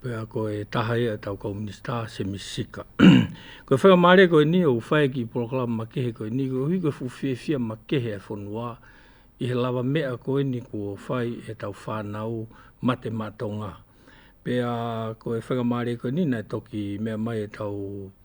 Pea koe e tahaia e tau Kouminista, Semi Sika. Koe whai o Mare, koe ni o whai ki Porokalama Makehe, koe ni koe hui koe fu fiefia makehe e whonua, i he lawa mea koe ni kua whai e tau whanau mate ma Tonga. Pea koe whai o Mare, koe ni na e toki mea mai e tau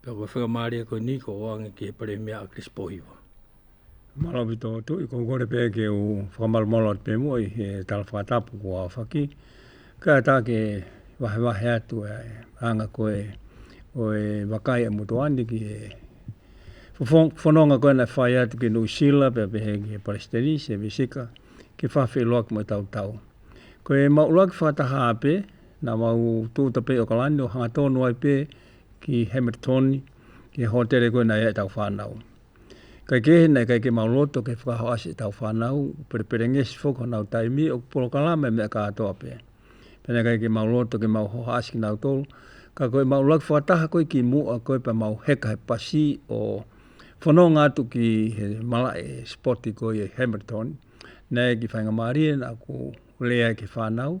Pea kua whakamārie koe nui kua hoanga ki he Paremia a Chris Pohiwa. Maravi tō tui, kua kore pea ki u whakamarumaru atu pea mua i he tala whakatapu ko Awhaki. Kia tāke wahewahe atu e anga koe o e Wakaia mo tō aniki e whanonga koe na whai atu ki New Zealand pea pehe ki he Parestanese, he Mesika, ki whawhi loa ki mo tau tau. Ko e mau loa ki whakataha ape, na mau tū tapei o Kalani o hanga tonu ai pea ki Hamilton, ki Hotere koe nei e tau whanau. Kai ke he nei, kai ke mau loto, kai whakaho asi e tau whanau, pere pere ngesi fok ho nau taimi, o polo kalame me a ka atoa pe. Pene kai ke mau loto, ke mau hoha asi ki nau tolu, ka koe mau lag whakataha koe ki mu a koe pa mau heka he pasi o whano ngā tu ki he mala e spoti koe e Hamilton, nei ki whainga marie na ku lea ki whanau,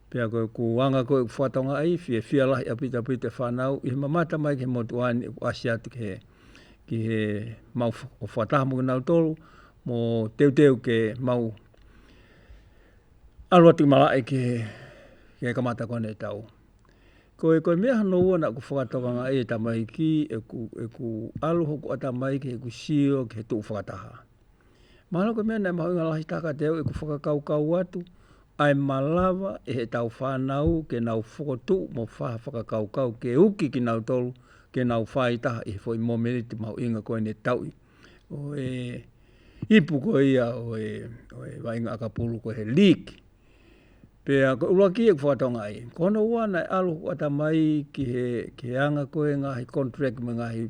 Pea koe ko anga koe ko whatonga ai whi e whia lahi a pita pita e whanau i he mamata mai ki he motu aini e ko asi atu ki he ki he mau o whataha mo nau tolu mo teu teu ke mau alo atu mala e ki he ki he kamata koe nei tau. Ko e koe mea hano ua na ku whakatoka nga e tamaiki e ku e ku alo hoku ata mai ki he ku sio ki he tuu whakataha. Mahalo ka mea nei maha nga lahi taka te au e ku whakakau kau atu, ae malawa e he tau whanau ke nau whokotu mo whaha whakakau kau ke uki ki nau tolu ke nau wha i taha i he foi momeriti mahu inga koe nei tau i o e ipu koe ia o e o e wa inga aka pulu koe he leak pea ko ula ki e ku whakatonga ai kono wana e alo ku ata mai ki he ki he anga koe nga hi contract me nga hi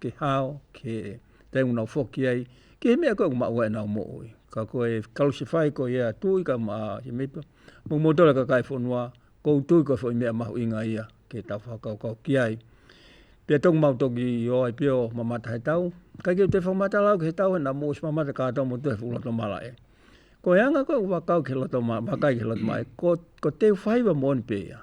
ke hao, ke te una whoki ai, ki he mea koe ko maua e nao mo oi. Ka koe e kalosifai ko ia tui ka ma he meipa, mo mo tole ka kai whonua, ko utui ko whoi mea mahu inga ia, ke tau whakau kau ki ai. Pia tau mau tau ki o ai pia o mamata he tau, kai ki o te whamata lau ki he tau hena mo si mamata ka tau mo tu he fuloto mara e. Ko eanga koe ko whakau ki loto mara, whakai ki loto mara, ko, ko te whaiwa mo ni pia.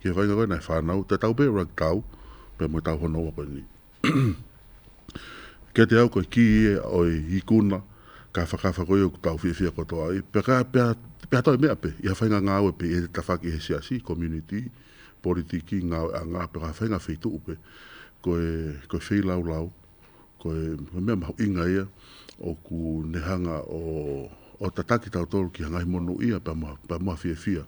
Kia kainga koe nei whanau, te tau pea rug tau, pea moe tau hono wa koe nei. Kei te au koe kii e oi i kuna, ka whakawha koe oku tau whiawhia koto ai, pea ka pea, pea toi mea pe, i hawhainga nga we pe e te tawhaki he siasi, community, politiki, nga we a nga, pea ka hawhainga whei tuu pe, koe, koe whei lau lau, koe, koe mea mahu inga ia, oku nehanga o, o tataki tau toru ki hangai mono ia, pea moa, pea moa whiawhia.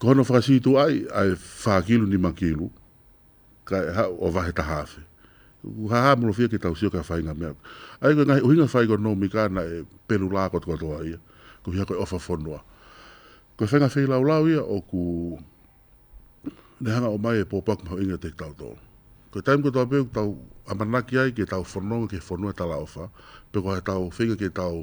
Ka hono whakasītu ai ai whā kilo nima kilo, ka ha, o wahe ta hawhe. Ku ha ha mro fia ke tau sio ka whai nga mea. Ai koe ngahi uhinga whai ko no mi ka na e pelu la ko tua toa ia. Ku hia koe ofa fonua. Koe whai nga whei lau lau ia o ku ne hanga o mai e po paku hau inga te tau to. Koe taim ko tua peu ku tau amanaki ai ke tau fononga ke fonua ta la ofa. Pe ko ha tau whenga ke tau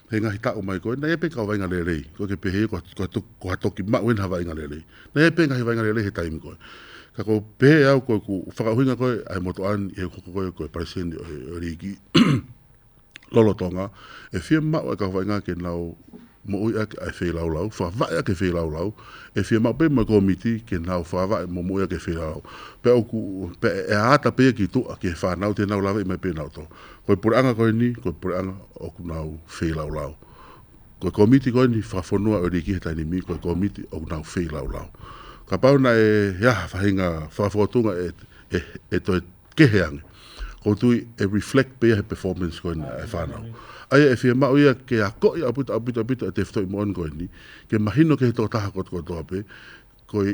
He ngahi tako mai koe, nei e peka o wainga rerei, koe ke pehe, koe, koe, koe toki ma wen hava inga rerei. Nei e pe ngahi wainga rerei he taimi koe. Ka ko pehe au koe ku whakahuinga koe, ai moto an, e koko koe, koe pariseni, e, e riki. Lolo tonga, e fia ma e ka wainga ke nau mo ui ake ai whei lau lau, wha vae ake whei lau lau, e fia ma pe mo komiti ke nau wha vae mo mo ui ake whei lau lau. Pe oku, pe e ata pe ki tua ke wha nau te nau lawe i mai pe nau to. Koe pore anga koe ni, koe pore anga oku nau whei lau lau. Koe komiti koe ni, whafonua ori ki he taini mi, koe komiti oku nau whei lau lau. Ka pau na e he aha whahinga whafotunga e, e, e toi kehe ange. Ko tui e reflect pia he performance koe ni e whanau. Aia e whia mau ia ke a koi a puta a puta puta e te whtoi moan koe ni, ke mahino ke he tō taha ko, ko tō ape, koi,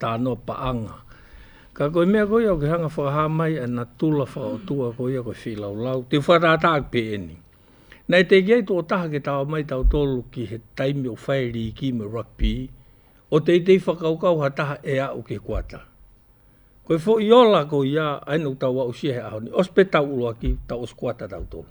tā noa paanga. Ka koe mea koe au ke hanga whakaha mai a na tula wha o tua koe ia koe whi lau lau, te wha rā tāku pē eni. Nei te ki ai tō taha ke tāo mai tāu tōlu ki he taimi o whae rī ki me rugby, o te itei whakau kau ha taha e a u ke kuata. Koe fo i ola koe ia, aina u tau a u sia he aho ni, os pe tau ulo aki, tau os kuata tāu tōlu.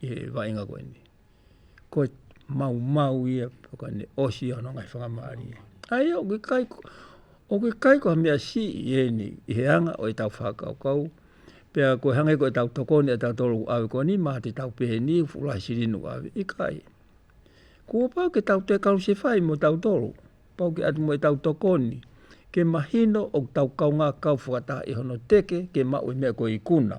e vaenga koe ni. Koe mau mau ia, paka ne osi ano ngai whakamari. Ai o ke kai, o ke kai ko mea si i e ni, i he anga o e tau whakau kau, pea koe hange koe tau toko ni a tau tolu awe koe ni, maha te tau pehe ni, fula si rinu awe, i kai. Kua pau ke tau te kau se whai mo tau tolu, pau ke atu mo e tau toko ni, ke mahino o tau kau ngā kau whakata i hono teke, ke mau i mea koe i kuna.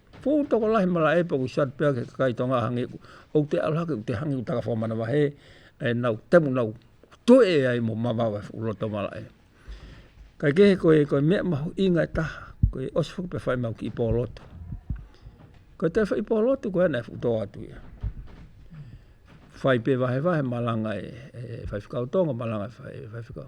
Pou Tokolahe Mara Epa Ko Sat Peak he kakai to nga hangi o te aroha ki te hangi o taka whamanawa he e nau temu nau toe e ai mo mamawe o roto mara e kai ke he koe koe mea mahu inga e taha koe osi fuku pe whai mau ki ipo roto koe te whai ipo roto koe ana e fuku toa atu ia whai pe vahe vahe malanga e whai whikau tonga malanga e whai whikau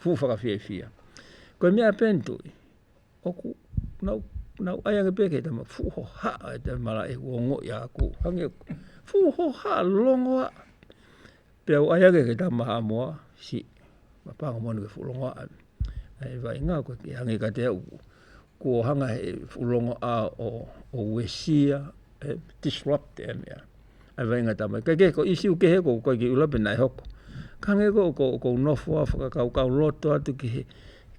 Who whakawhiawhia. Koe me a pen toi. Oku, nau, nau ai ange peke tama. Who ho ha, e te mara e kua ngoi a aku. Hange, who ho ha, longoa. Pea o ai ange ke tama ha moa, si. Ma panga moa nuke who longoa. E vai ngā koe ke hange ka te au. Ko hanga he who longoa o, o wesia, e, disrupt e mea. a wai nga tama ke ke ko isi u ke he ko ko ki ula pe nai hoko ka nge ko ko ko no fo a faka ka ka loto atu ki he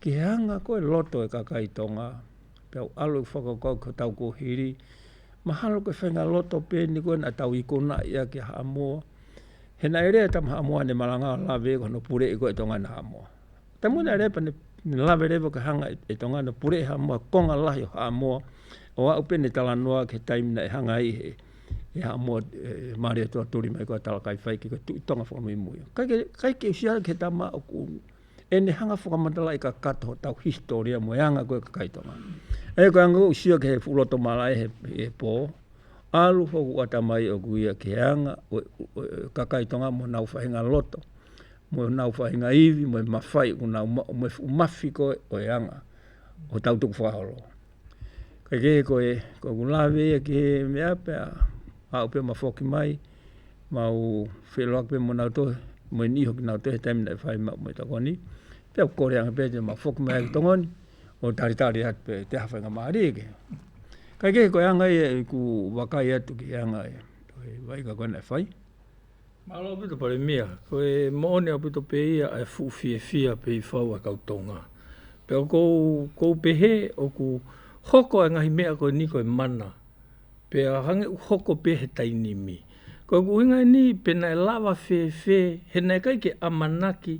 ki he anga ko e loto e ka kai tonga pe au alo i faka ko ko tau ko hiri mahalo ke fenga loto pe ni ko na tau i ko na ia ki ha mo he na ere tam ha mo ne malanga la ve ko no pure i ko e tonga na mo Te muna repa ne lawe repa ka hanga e tonga na pure ha moa konga lahi o ha moa o a upene tala noa ke taim na e hanga i he e ha moa e mare o toa tori mai ko a tala kai whai ke ka tu tonga whakamui mui. Kai ke, kai ke usiara ke ta ma o ku e ne hanga whakamatala i ka kato ho tau historia mo e anga koe ka kai tonga. E koe anga usia ke he fuloto mala e he e po, alu fo ku ata mai o ku ia ke anga ka kai tonga mo na ufahinga loto. Moe nau whai nga iwi, moe mawhai, ko nau ma, moe umafi ko e, ko e anga. O tau tuku whahalo. Kai ke ko e, ko ku lawe e ke mea pea, a upe ma foki mai, ma u whelo akpe mo nau tohe, moe ni hoki nau tohe taimina e whai ma moe takoni. Pea kore anga pete ma foki mai ki tongoni, o tari tari hat pe te hawhai nga maari e ke. Kai ke ko e anga e ku wakai atu ki anga e, vai ka kona e whai. Malo a puto pare mia, ko e moone a puto pe ia e fu fie fia pe i fau a kau tonga. Pe o kou, kou pehe o ku hoko e ngahi mea koe ni koe mana, pe a hange u hoko pe he tainimi. Ko ku hinga e ni pena e lawa fe fe he nae kai ke amanaki,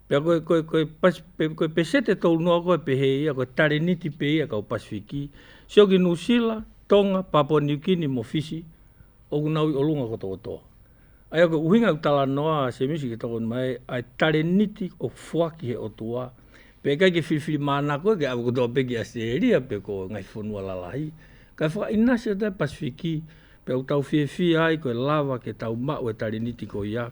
Pea koe, koe, koe, pas, pe, koe pesete tolu noa koe pe he ia, koe tareniti pe ia kau Pasifiki, sio ki New Zealand, Tonga, Papua New Guinea mo Fiji, oku naui o lunga ko toko toa. Aia koe uhinga u tala noa a Semisi ke tokonu mai ai tareniti o fuaki he otua, pe kai ke whiriwhiri mana koe ke awe ko toa pe ki Australia pe ko Ngai Whanua Lalahi, kai whakainasio tai Pasifiki, pea u tauwhiwhi ai koe lawa ke tau mau e tareniti ko ia,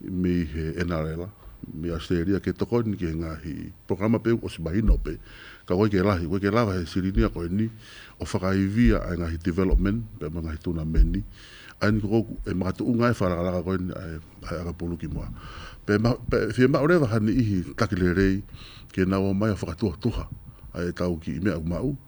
me he NRL, me Australia, ke toko ni ke nga hi programa pe o si mahino pe, ka wai ke lahi, wai ke lawa he sirinia koe ni, o whakaivia ai nga hi development, pe ma nga hi tuna me ni, ai ni koku, e ma tu unga e wha la la koe ni, ai, ai aka pulu ki mua. Pe ma, pe, fie ma ore waha ni ihi, takile rei, ke na o mai o whakatuha tuha, ai e tau ki i mea u ma u,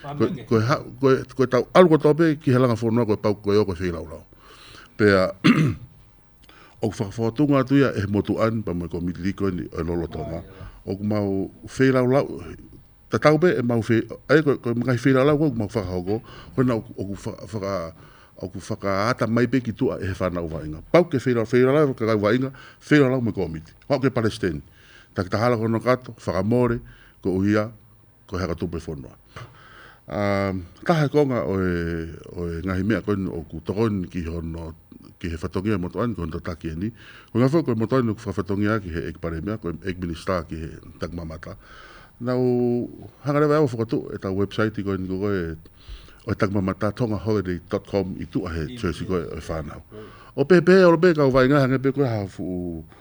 Koe, koe, ha, koe, koe tau alu koe tau ki he langa whonoa koe pau koe o koe whei lau lau. Pea, o ku whakawhakatunga atu ia e motu an pa mai ko mi liko ni e lolo tonga. O ku mau whei lau lau, ta tau be e mau whei, e koe, koe mga whei lau lau koe ku mau whakahoko, koe na o ku whaka, o ku whakaata mai be ki tua e he whanau wainga. Pau ke whei lau, whei lau lau, kakai wainga, whei lau lau me komiti. Hau ke palesteni. Ta ki ta hala kono kato, whakamore, ko uhia, Ko hea ka tupe whanua. A, taha ko nga oe, oe ngahi mea koe ni oku, tokon ki hono, ki he whatongia mo toan, ki hono tataki e ni. Ko nga whau koe mo toan, ko whatongia ki he ek pare mea, ko ek minister ki he tak mamata. Na u, hangarewa e au whakatu, e ta website koe ni koe, oe tak mamata, tongaholiday.com, i tu ahe, Tracy koe, oe whanau. O pepe, o lo pe, ka uwai ngaha, ngepe koe ha fu,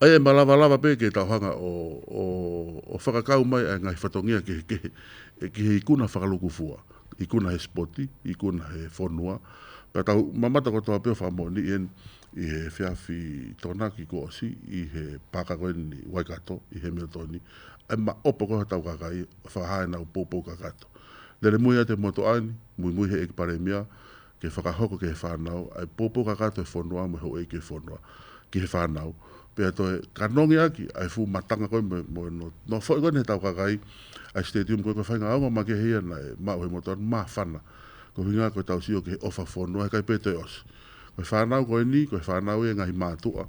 Ai e malawalawa pēke tau hanga o, o, o whakakau mai ai Ngahi Whatongia ke he kehe, e kehe i kuna whakaluku fua, i kuna he spoti, i kuna he whonua, pea tau mamata ko toa peo wha moni i en, i he whiawhi tona ki Koosi, i he pākako en i Waikato, i he mea toni, ai ma opa koha tau kakai, wha haina u poupou kakato. Lere muia te moto aini, mui mui he ek paremia, kei whakahoko ki he whānau, e pōpoka katoa e whonoa me ho eke whonoa ki he whānau, pea toi, ka nongi aki, ai fu matanga koe me, mo e no, no whoi koe ne tau kakai, ai stadium koe koe whai ngā aonga ma ke hei ana e, ma uhe motor, ma whana, ko hinga koe tau sio ki he ofa whonoa he kai pē toi osi. Koe whānau koe ni, koe whānau e ngahi mātua,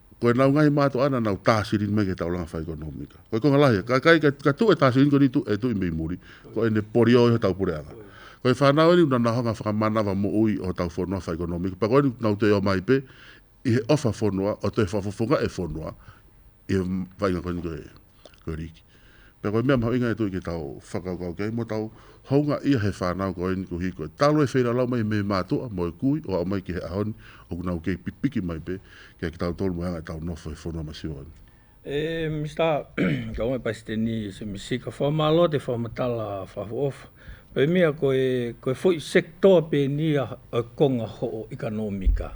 Koe nau ngahi mātou ana nau tāsirin mei ke taulanga whaikonomika. Koe konga lahi, ka, kai, ka, ka tu e tāsirin koe tu, e tu i mei muri, ko e ne pori o iho tau pureanga. Koe whanau eni una nahonga whakamanawa mo ui o tau whonua whaikonomika, pa koe nau te o mai pe, i he ofa whonua, o te whafofonga e whonua, i he whainga koe ni koe. Kua riki. Pea koe mea maha inga e toi ke tau whakau kau kei mo tau hounga ia he whanau koe ni ko hi koe. Talo e whera lau mai me matoa mo e kui o au mai ki he ahoni o kuna ukei pikpiki mai pe kia ki tau tolu mai anga e tau nofo he whonua mai siwa ni. E Mister ka wai pai ste ni se me si ka wha malo te wha matala wha of pe mea koe koe fo i sector pe ni a konga ho o ikanomika.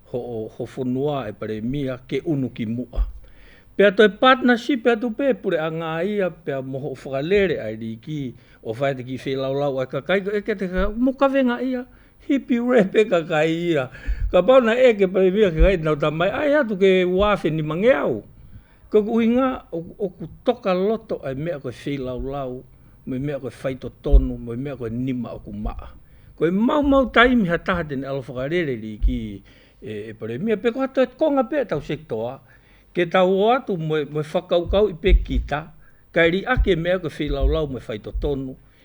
ho o ho whonoa e pare mia ke unu ki mua. Pea toi partnership e atu pe pure a nga ia pea moho whakalere ai ri ki o whai te ki whee laulau ai ka kai e ke te ka mo ka venga ia hipi rep e ka kai ia ka pau na e ke pare mia ke kai na ta mai ai atu ke wafeni mangeau. Ko oku huinga, oku toka loto e mea koe whei laulau, me mea koe whai totonu, me mea koe nima oku maa. Ko e mau mau taimi ha taha tenei alo whakarereri ki e Paremia, pe koha toe konga pe tau sector a, ke tau o atu moe whakaukau i pe kita, kai ri ake mea koe whei laulau me whai totonu,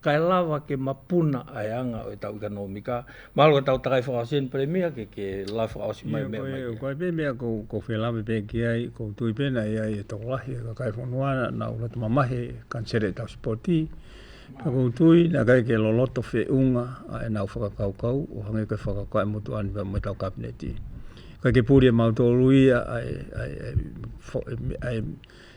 Kai lawa ke mapuna ai a nga o tau ikanomika, malo e tau takai whaka sen pere mia ke ke lai whaka osi mai mea mai ke. Kai pe mea ko ko whela me pe ke ai ko tui pena e ai e tau lahi e ka kai whanu ana na ula tama mahe kan sere tau spoti pe ko tui na kai ke loloto fe unga a e nau whaka kau kau o hange kai whaka kai motu ani me tau kapneti. Kai ke puri e mau tolu ia ai ai ai ai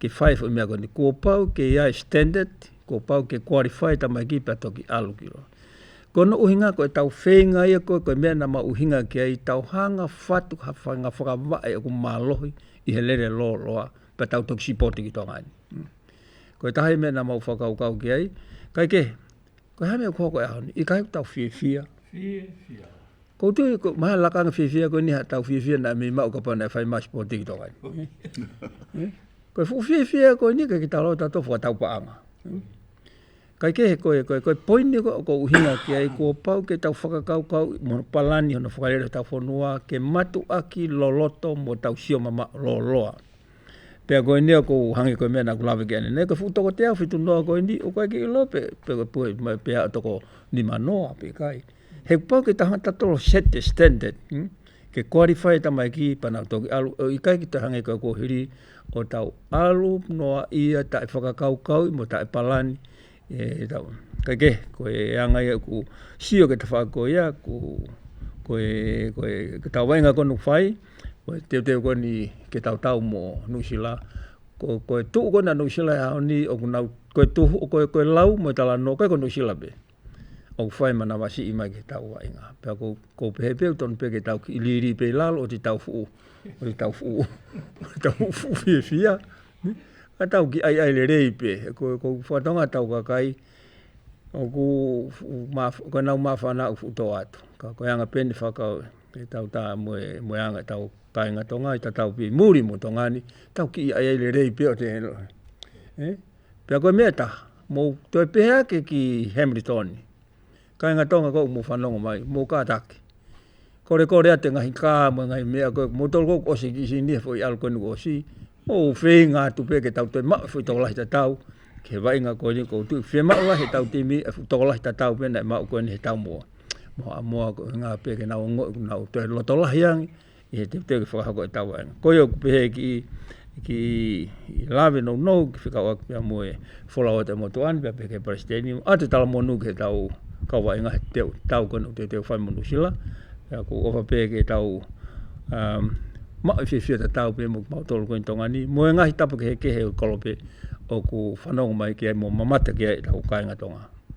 Ke whai whai mea koni, kua pau ke ia e standard, kua pau ke qualify ta mai ki pia to ki alukiro. Ko no uhinga ko e tau whenga ia ko ko mea na ma uhinga ki ai tau hanga whatu ha whanga whaka va e ku malohi i he lere lo loa pa tau to ki sipoti ki tonga ni. Ko e tahai mea na ma whaka ukau ki ai, kai ke Koe haere koa koe ahau nei, i kahi tau whiwhia. Whiwhia. Ko tu, ko maha laka nga whiwhia koe ni ha tau whiwhia na mi mau ka pana e whai mas po tiki toka ni. Eh? Koe fu whiwhia koe ni kai ki talo tato fua tau paanga. Eh? Kai ke he koe, koe, koe poini ko, ko uhina ki ai kua pau ke tau whakakau kau mo palani hono whakarere tau whanua ke matu aki loloto mo tau sioma ma loloa. Pea koe ni a ko hangi koe mea na kula veke ni ne ka futa ko tea fitu noa koe ni o kai ki lo pe pe ko pue ma pe a to ko ni ma noa pe kai. He pa ke ta hata to set the standard. Hmm? Ke qualify ta mai ki pa na to ki alu i kai ki ta hangi koe ko hiri o tau alu noa ia ta e whakakau kau mo ta e palani E tau, kai ke, koe e anga ia ku sio ke te whako ia, ku koe, koe, ke tau wainga koe nuk whai, koe teo teo koe ni ke tau tau mo Nusila, koe, koe tu koe na Nusila e hao ni, o kuna, koe tu, koe, koe lau mo tala no koe koe Nusila be. O whai mana wasi i mai ke tau wainga. Pea ko, ko pehe peo ton pe ke tau ki iliri pe lalo o ti tau fuu, o ti tau fuu, o ti tau fuu fie fia. Ka tau ki ai ai le reipe, e ko ko whatanga tau ka kai, o ku maf, ka nau mafana u futo atu. Ka ko anga pen whaka te tau ta mo mo anga tau kai nga tonga i ta tau pi muri mo tonga ni, tau ki ai ai le reipe o te helo. Eh? Pea ko meta, mo to e peha ke ki Hamilton. Kai nga tonga kou mo whanonga mai, mo ka take. Kore kore ate ngahi ka mo ngahi mea koe, mo tolu kou osi ki si nia fwoi alu koe nuku osi, mo u whei nga atu pe ke tau toi ma fwoi toko lahi ta tau, ke he wainga koe ni kou tui, whei ma ua he tau timi e fwoi toko lahi ta tau pena e ma u koe ni he tau moa. Moa moa koe nga pe ke nau ngoi, nau toi loto lahi angi, He tewtewe ki whakahako e tāua ana. Koia oku pehe ki, ki lawe no no ki whikao ake pia mo e whola o te motu ane pia pehe Palestini a te tala mo nuke tau kawa inga he teo tau koe no te teo whai mo nusila e ko ofa pehe ke tau um, ma i whiwhia te tau pe mo ki mau tolu koe tonga ni mo e ngahi tapu ke he kehe o kolope o ku whanonga mai ki ai mo mamata ki ai tau kainga tonga.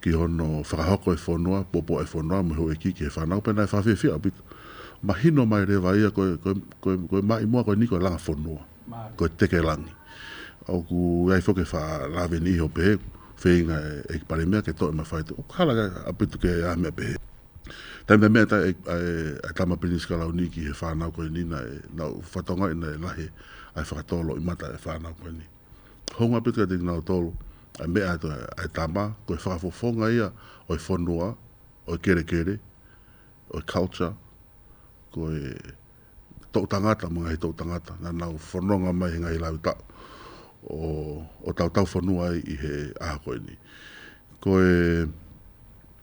Ki hono whakahoko e whonoa, popo e whonoa, muhe oe kiki he whanau, pena e whawhiwhia, ma hino mai rewa ia koe, koe, koe, koe mai mua, koe ni koe langa whonoa, koe teke langi. Oku ei foke wha laveni iho pehe, wheinga e, e ki pare mea ke to e ma whai to, kala ke a pitu ke a mea pehe. Tei mea mea ta e, e, e tama pini skalau ni ki he whanau koe ni na e, na whatonga ina e lahe, ai whakatolo i mata e whanau koe ni. Honga pika te ngau tolu, a me a to a tama, ko fa fo fo nga ia, o fo noa, o kere kere, o culture, ko e to tangata mo ngai to tangata, na na fo no nga mai ngai la uta. O o tau tau fo noa i he a ko ni. Ko e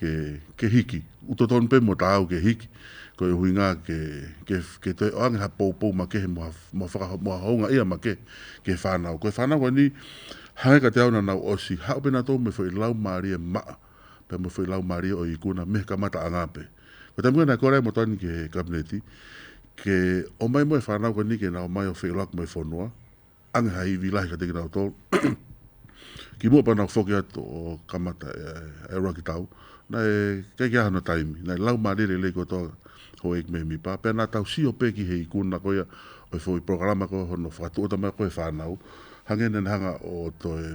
Ke, ke hiki. Uta tonu pe mua tāu ke hiki. Ko e hui ngā ke, ke, ke te o ange ha pou pou ma kehe mo ha, mo whaka, mo ha hounga ia ma ke, ke whānau. Ko e whānau koe ni, hange ka te au na nau osi, hau pena tō me whai lau mārie maa, pea me whai lau mārie o i kūna me ka mata anga pe. Ko te muena e kore ai mo tani ke Kabineti, ke o mai mo e whānau koe ni ke na o mai o whai lau ko mai whonua, Ange ha iwi lahi ka te kira o tō. ki mua pana o whoke atu o kamata e, e roa ki tau. Na e kei ki ahana taimi. Na e lau ma rere lei koto ho e kme mi pa. Pea na tau si o pe ki hei kuna koia o i whoi programa ko hono whakatu o tamai koe whanau. Hange nen hanga o to e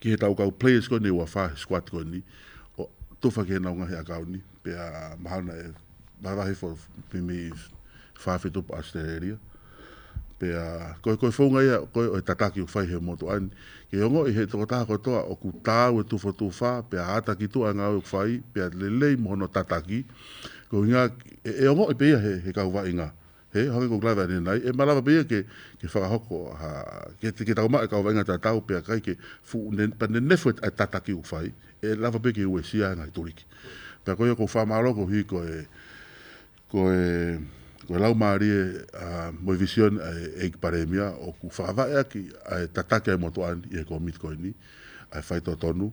Ki he tau kau players koe nei, ua wha squad koe nei, o tofa ki he naunga he akau nei, pea mahana e, maharahi for me wha whi topa Australia. Pea, koe koe whaunga ia, koe o he tataki o whai he moto an, ke ongo i he toko taha koe toa, o ku tāu e tufa tū wha, pea ata ki tua ngā uk whai, pea lelei mohono tataki, ko inga, e, e ongo i peia he, he kau wha inga, He Hongi Group Live Anenai e marawa pea ke ke whakahoko ha ke te ke tau mai ka wainga ta tau pea kai ke fu ne pa ne ne fu ta ta ki u fai e lava pe ke we sia ngai toriki. Pea koe ko wha maro ko hi ko e ko e ko e lau maari e a moi vision e e paremia o ku wha va e aki a e ta ta ke mo to an e ko mit koe ni a whai to tonu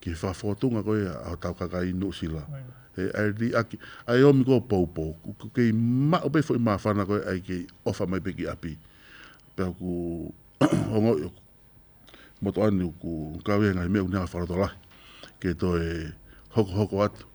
Ki whawhatunga koe a tau kaka i New Zealand. E ai li aki, ai omi ko pou pou, ku kei ma o befo i ma whana koe ai kei ofa mai pe ki api. Pe aku ongo i aku moto ani ku kawea ngai mea ku nea whara to lahi. Kei to e hoko hoko atu.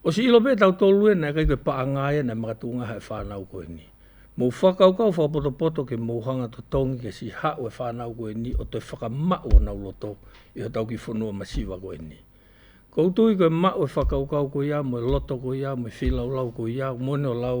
O si ilo pe tau tolu e nei kai koe paanga e nei ma ka tunga ha e whanau koe ni. Mou whakau kau whapotopoto ke mou hanga to tongi ke si ha u e whanau koe ni o toi whaka ma u ona u loto i ho tau ki fonua ma siwa koe ni. Koutou i koe ma u e whakau kau koe i a mou e loto koe i a mou e whi lau lau koe i a u mone o lau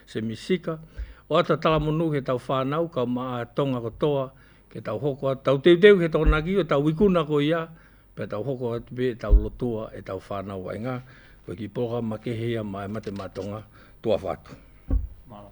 Semisika, o ata tala monu he tau whanau ka ma a tonga ko toa, ke tau hoko a tau teuteu he tona ki o tau wikuna ko ia, pe tau hoko a tupe e tau lotua e tau whanau ai nga, ko ki porogama ke he ia ma e mate ma tonga, tuawha atu. Maro.